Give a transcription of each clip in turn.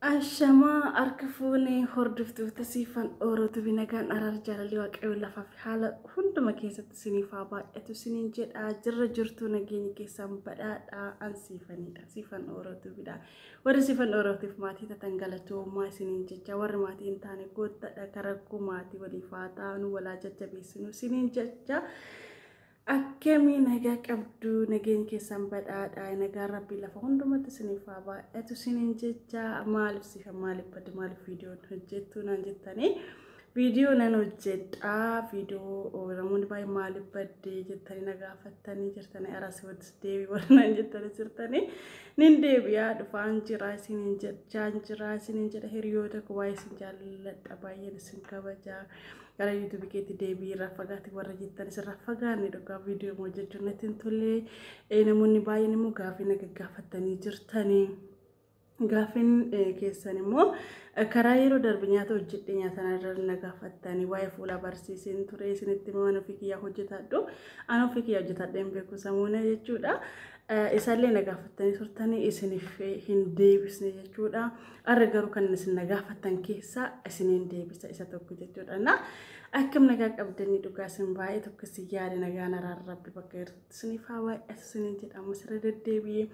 Ashamaa harka fuune hordoftoota siifan oorootu binagaan araar jaalalli waaqayyoo lafaa fi haala hunduma keessatti siniif haa baay'atu siniin jedha jirra jirtu nageenya keessaan badhaadha an siifanidha siifan oorootu bidha warri siifan oorootiif maatii tatan galatoomaa siniin jecha warri maatii hin taane goottadha karakkoo maatii waliif haa taanu walaa jajjabeessinu siniin jecha Akkamii nagaa qabdu nageen keessan badhaadha nagaan rabbii lafa hundumatti isiniif haa baay'atu isiniin jecha maaliif sifa maaliif badde maaliif viidiyoon hojjettu naan jettanii viidiyoo nan hojjedha viidiyoo namoonni baay'ee maaliif badde jettanii na gaafattanii jirtanii aras wadis deebii warra naan jettanii jirtanii nin deebi'aa dhufaan jira isiniin jechaan jira isiniin jedha hiriyoota koo baay'ee isin jaalladha baay'een isin kabajaa. gara yuutuubi keetti deebii irraa fagaate warra jettanis irraa fagaanne dhugaa viidiyoo moo jechuun natti hin tolle namoonni baay'een immoo gaaffii na gaggaafattanii jirtanii. Gaaffiin keessan immoo karaa yeroo darbe nyaata hojjedhe nyaata irra na gaafattanii waa'ee fuula barsiiseen ture isinitti waan ofii kiyyaa hojjetadhu an ofii kiyyaa hojjetadhe hin beeku samuuna jechuudha. Isaallee na gaafattanii turtanii isiniif hin deebisne jechuudha. Arra garuu kan isin na gaafattan keessaa isiniin deebisa isa tokko jechuudha. Na akkam nagaa qabdanii dhugaa isin baay'ee tokko isin yaade nagaan araara rabbi bakka irratti isiniif haa baay'atu isiniin jedhamu sirra deddeebi'ee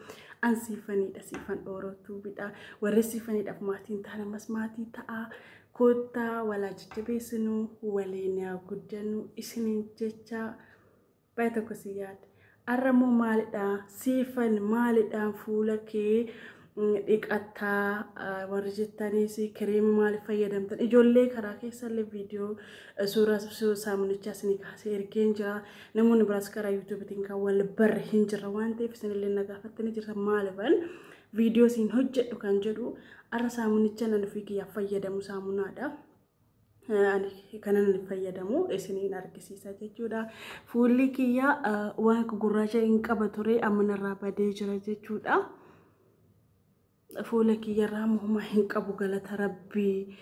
an siifaniidha siifan dhoorootuu bidha warri siifaniidhaaf maatiin ta'an ammas maatii ta'aa koottaa walaa jajjabeessinuu waliin haa guddannu isiniin jechaa Baay'ee tokko si yaadde. Har'a immoo maalidhaan siifan maalidhaan fuula kee dhiqattaa warri jettaniis kireema maal fayyadamtan ijoollee karaa keessallee viidiyoo suuraa saamunichaa isinii kaasee ergeen jira namoonni biraas karaa yuutuubiitiin kan wal barre hin jirra waan ta'eef isinillee na gaafattanii jirta maaliban viidiyoo isin hojjedhu kan jedhu har'a saamunichaan ani ofii kiyyaa fayyadamu saamunaadha. kanan fayyadamu isiniin argisiisa jechuudha. Fuulli kiyya waan gurraacha hin qaba ture amma narraa badee jira jechuudha. Fuula kiyyarraa muhuma hin qabu galata rabbii.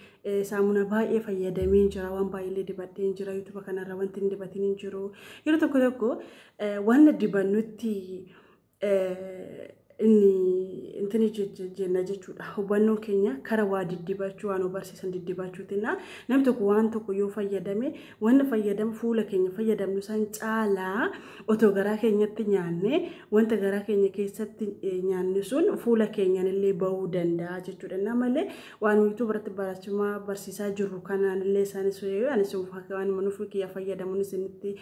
Saamuna baay'ee fayyadamee jira waan baay'ee dibadhee jira yuutuba kanarra wanti hin dibatin hin jiru. Yeroo tokko tokko waan dibannutti inni intini jenna jechuudha. Hubannoon keenya kara waa diddibachuu waan barsiisan diddibachuutinna namni tokko waan tokko yoo fayyadame wanna fayyadamu fuula keenya fayyadamnu san caalaa otoo garaa keenyatti nyaanne wanta garaa keenya keessatti nyaanne sun fuula keenyanillee ba'uu danda'a jechuudha. Innaa malee waan wiituu biratti barachumaa barsiisaa jirru kanaanillee isaanis anis waan manuuf kiyya fayyadamuun isinitti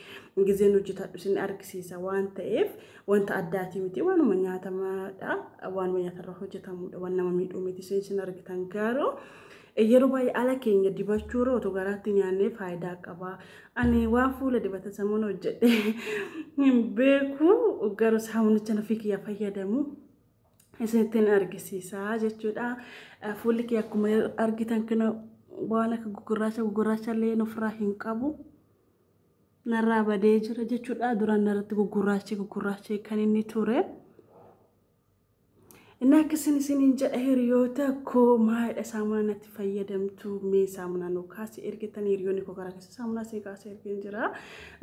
gizeen hojjetadhu isin argisiisa waan ta'eef. Wanta addaatii miti waanuma nyaatamaadha waanuma nyaatarra hojjetamuudha waan nama miidhuu miti isin isin argitan garuu yeroo baay'ee ala keenya dibachuurra otoo garaatti nyaannee faayidaa qaba. Ani waan fuula dibata sammuu hojjedhe hin beeku garuu saamunicha nafii kiyya fayyadamu isinittiin argisiisaa jechuudha. Fuulli kiyya akkuma argitan kana waan akka gugurraacha gugurraacha illee ofirraa hin qabu. narraa badee jira jechuudha duraan narratti gugurraachee gugurraachee kan inni ture inni akkasin isiniin jedha hiriyoota koo maayidha saamunaa natti fayyadamtu mee saamunaa nu kaasi ergitan hiriyoonni koo karaa keessa saamunaa sii kaasa ergin jira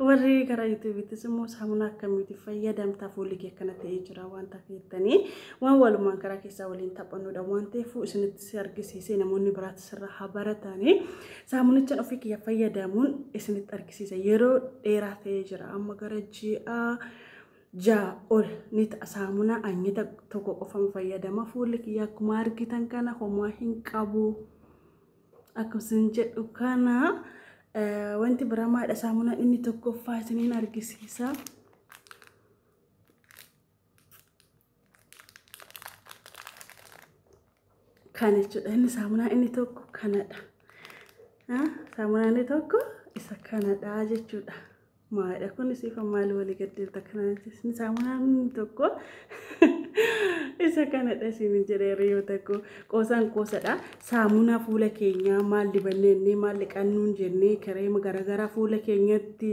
warri karaa yuutuubiittis immoo saamunaa akkamitti fayyadamta fuulli kee akkana ta'ee jira waan taafeettanii waan walumaan karaa keessaa waliin taphannudha waan ta'eef isinitti si argisiisee namoonni biraatti sirraa haa barataanii saamunichaan ofii kiyya fayyadamuun isinitti argisiisa yeroo dheeraa ta'ee jira amma gara ji'a ja'a ol ni ta'a saamunaa anyita tokko qofan fayyadama fuulli kiyya akkuma argitan kana homaa hin qabu akkasumas jedhu kana wanti biramaadha saamunaan inni tokkoffaa isiniin argisiisa. Kana jechuudha inni saamunaa inni tokko kanadha. Saamunaa inni tokko isa kanadha jechuudha. Maalidha kunis ifa maal walii gaddeelta kanatti inni saamunaa inni tokko isa kanadha isin jedhee hiriyoota koo qoosaan qoosadha. Saamunaa fuula keenyaa maal dibannee inni maal dhiqannuun jennee kireema garaagaraa fuula keenyatti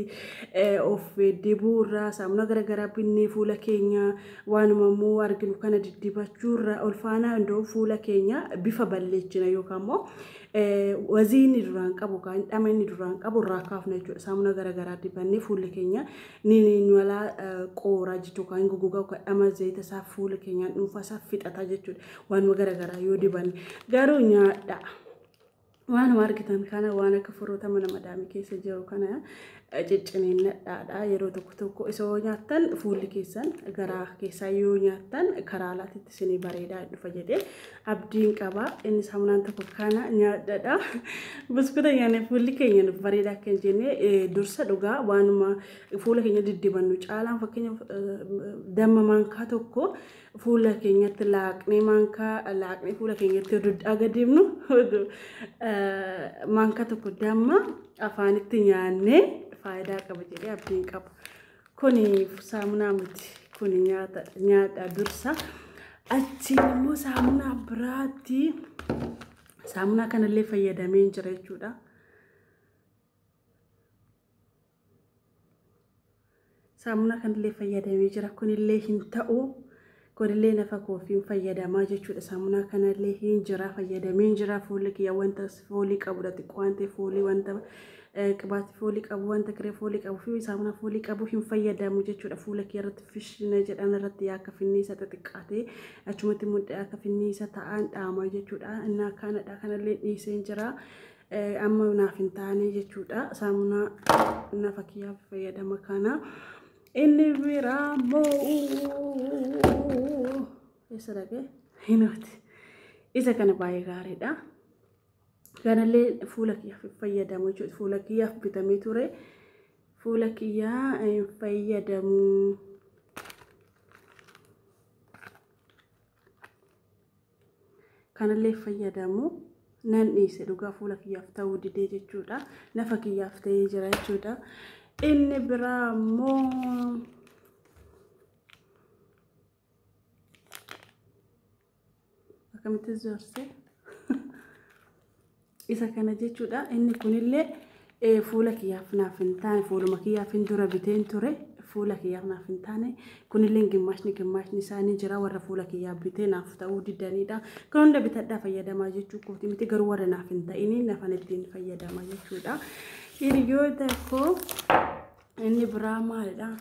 of dibuurraa saamunaa garaagaraa binnee fuula keenyaa. Waanuma immoo arginu kana diddibachuurra olfaanaa hunda'u fuula keenya bifa balleechina yookaan immoo wazii inni duraan qabu yookaan dhama inni duraan qabu irraa kaafna jechuudha. Saamuna gara garaa dibannee fuulli keenya ni nuwalaa qooraa jechuudha yookaan gogogaa yookaan dhama zayita isaa fuula keenyaan dhuunfaa isaa fixata jechuudha. Waanuma gara garaa yoo dibanne garuu nyaadhaa. Waanuma argitan kana waan akka furruuta mana madaamii keessa jiru kana eh, cicciniinnadhaadha. Yeroo tokko tokko isa yoo nyaattan fuulli keessan garaa keessaa yoo nyaattan karaa alaatitti isinii bareedaa hin dhufa jedhee abdiin qaba. Inni saamunaan tokko kana nyaadhadha. Buskuuta nyaanne fuulli keenya nuuf bareedaa akka hin jenne eh, dursa dhugaa waanuma fuula keenya diddibannu caalaan fakkeenyaaf eh, damma maankaa tokko fuula keenyatti laaqnee maankaa laaqnee fuula keenyatti yoo dudhaaga deemnu maankaa tokko damma afaanitti nyaannee faayidaa qaba jedhee abdiin qaba. Kuni saamunaa miti. Kuni nyaata nyaata dursa. Achiin immoo saamunaa biraatti saamunaa kanallee fayyadamee jira jechuudha. Saamunaa kanillee fayyadamee jira. Kunillee hin ta'u. Kunillee nafa koofiin fayyadamaa jechuudha. Saamunaa kanallee hin jira fayyadamee hin jira. Fuulli kiyya wanta foolii qabudha. Xiqqoo waan ta'e foolii wanta qibaati foolii qabu wanta kiree foolii qabu fi saamunaa foolii qabu hin fayyadamu jechuudha. Fuula kiyya irratti fishina jedhan irratti akka finniisa xixiqqaatee achumatti mudhee akka finniisa ta'an dhaamaa jechuudha. Innaa kanadha kanallee dhiisee hin jira. amma naaf hin taane jechuudha saamunaa nafa kiyyaaf fayyadama kana inni biraa moo'uu eessa dhaqe hinaati isa kana baay'ee gaariidha kanallee fuula kiyyaaf fayyadamu jechuudha fuula kiyyaaf bitamee ture fuula kiyyaa hin fayyadamu. Kanallee fayyadamu nan dhiise dhugaa fuula kiyyaaf ta'uu didee jechuudha. Nafa kiyyaaf ta'ee jira jechuudha. Inni biraa immoo akkamitti zorse Isa kana jechuudha. Inni kunillee eh, fuula kiyyaaf naaf hin taane fuuluma kiyyaaf hin dura biteen ture fuula kiyyaaf naaf hin taane kunillee gimmaashni gimmaashni isaa ni jira warra fuula kiyyaaf bitee naaf ta'uu didaniidha. Kan hunda bitadhaa fayyadamaa jechuu kooti miti garuu warra naaf hin ta'inii nafan ittiin fayyadama jechuudha. Hiriyoota koo inni biraa maalidha?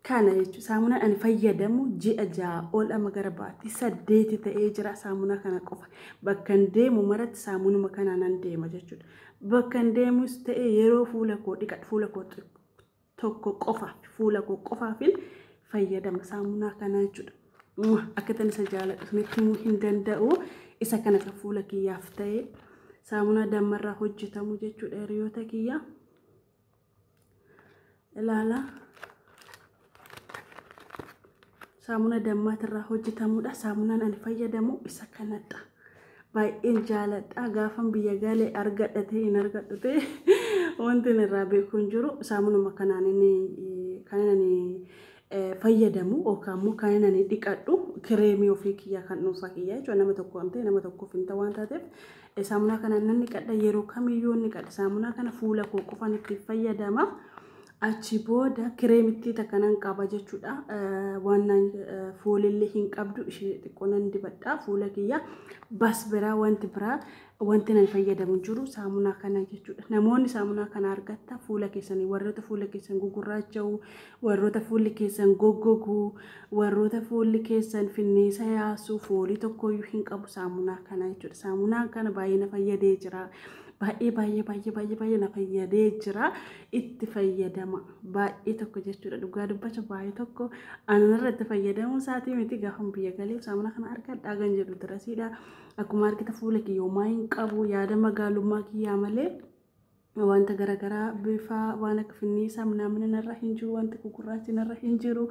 Kana jechuun saamunaan ani fayyadamu ji'a ja'a ol amma gara baatii saddeeti ta'ee jira saamunaa kana qofa. Bakka hin deemu maratti saamunuma kana nan deema jechuudha. Bakka hin deemus ta'e yeroo fuula koo dhiqadhu fuula koo tokko qofa fuula koo qofaafin fayyadama saamunaa kana jechuudha. Akka tan isa jaaladhu isinitti himuu hin danda'u. Isa kana kan fuula kiyyaaf ta'e saamunaa dammarraa hojjetamu jechuudha hiriyoota kiyyaa. ilaala saamuna dammaatirraa hojjetamudha saamunaan ani fayyadamu isa kanadha baay'een jaaladha gaafan biyya galee argadha ta'e hin argadhu ta'e wanti irraa beeku hin jiru saamunuma kanaan inni kan inni fayyadamu yookaan immoo kan inni ani dhiqadhu kireemii ofii kiyyaa kan dhuunfaa kiyyaa jechuudha nama tokko amtee nama tokkoof hin ta'u waan taateef saamunaa kana nan dhiqadha yeroo kamiyyuu ni dhiqadha saamunaa kana fuula koo qofaan itti fayyadama achi booda kireemittii takka nan qaba jechuudha waan naan foolillee hin qabdu ishee xiqqoo nan dibadha fuula kiyya bas biraa wanti biraa Wanti nan fayyadamu hin jiru saamunaa kana jechuudha. Namoonni saamunaa kana argatta fuula keessanii warroota fuula keessan gugurraacha'u, warroota fuulli keessan goggogu, warroota fuulli keessan finniisa yaasu, foolii tokkoyyuu hin qabu saamunaa kana jechuudha. Saamunaa kana baay'ee na fayyadee jira. Baay'ee baay'ee baay'ee baay'ee baay'ee na fayyadee jira. Itti fayyadama baay'ee tokko jechuudha. Dhugaa dubbacha baay'ee tokko anarratti fayyadamuu isaatii miti gaafa biyya galee saamunaa kana argadhaa kan jedhu dirasiidha. Akkuma argita fuula kiyya homaa hin qabu yaada magaalummaa kiyyaa malee wanta garaagaraa bifa waan akka finniisaa minaamin narra hin jiru wanti gugurraachi narra hin jiru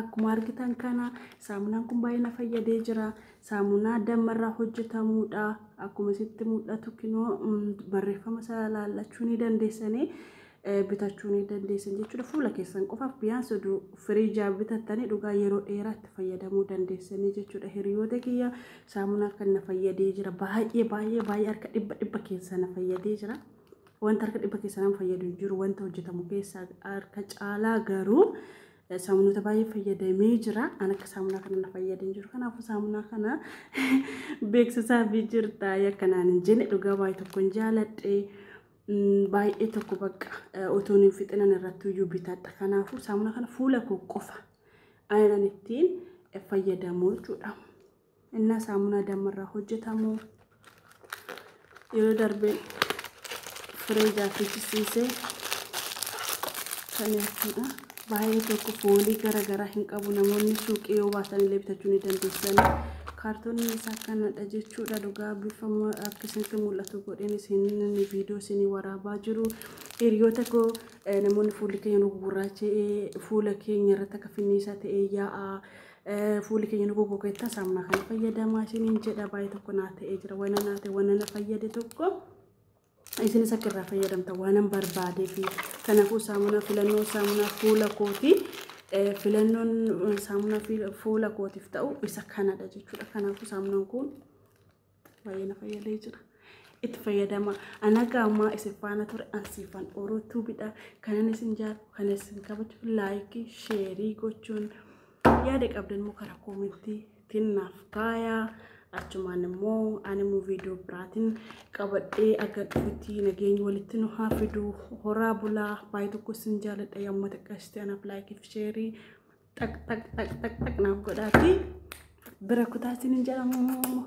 akkuma argitan kana saamunaan kun baay'ee na fayyadee jira saamunaa dammarraa hojjetamuudha akkuma sitti mul'atu kinoo barreeffama isaa laallachuu ni dandeessanii bitachuu ni dandeessan jechuudha. Fuula keessan qofaaf biyyaansi oduu firiijaa bitattanii dhugaa yeroo dheeraatti fayyadamuu dandeessanii jechuudha. Hiriyoota kiyya saamunaa kan na fayyadee jira. Baay'ee baay'ee baay'ee harka dhibba dhibba keessa na fayyadee jira. Wanta harka dhibba keessa nama fayyadu hin jiru. Wanta hojjetamu keessaa harka caalaa garuu saamunoota baay'ee fayyadamee jira. An akka saamunaa kana na fayyadee jiru. Kanaafuu saamunaa kana beeksisaa fi jirta yakkanaan hin jenne dhugaa baay'ee tokko hin jaaladhe. baay'ee tokko bakka otoon hin fixinan irratti iyyuu bitadha. Kanaafuu saamuna kana fuula koo qofa aanan ittiin fayyadamu jechuudha. Innaa saamunaa dammarraa hojjetamu yeroo darbe fireejaa fichisiisee kan jechuudha. Baay'ee tokko foolii gara garaa hin qabu namoonni suuqii yoo baatan illee bitachuu ni dandeessan. Kaartooniin isaa akkanadha jechuudha dhugaa bifa ma- akka isinitti mul'atu godheen isin viidiyoo isinii waraabaa jiru. Hiriyoota koo eh, namoonni fuulli keenya nu gurraacha'ee fuula keenya irratti akka finniisaa ta'ee yaa'aa eh, fuulli keenya nu goggogeettaa saamunaa kana fayyadamaa isiniin jedha baay'ee tokko naa ta'ee jira wanna naa ta'e wanna na fayyade tokko. isinis akka irraa fayyadamtan waanan barbaadeefi. Kanaafuu saamunaa filannoo saamunaa fuula kooti. Eh, Filannoon eh, saamunaa fi- fuula kootiif ta'u isa kanadha jechuudha. Kanaafuu saamunaan kun baay'ee na fayyadee jira. Itti fayyadama. Ana qaamaa isin faana ture ansiifan oruutuu bidha. Kanan isin jaallu, kan isin kabaju, laayikii, sheerii gochuun yaada qabdan immoo karaa koomentii ittiin naaf taaya achumaan immoo ani immoo viidiyoo biraatiin qabadhee akka dhufutti nageenyi walitti nu haa fidu horaa bulaa baay'ee tokko isin jaaladha yamma xiqqaashitee anaaf laayikiif sheerii xaq xaq xaq xaq xaq naaf godhaati bira kutaa isin hin jedhamu.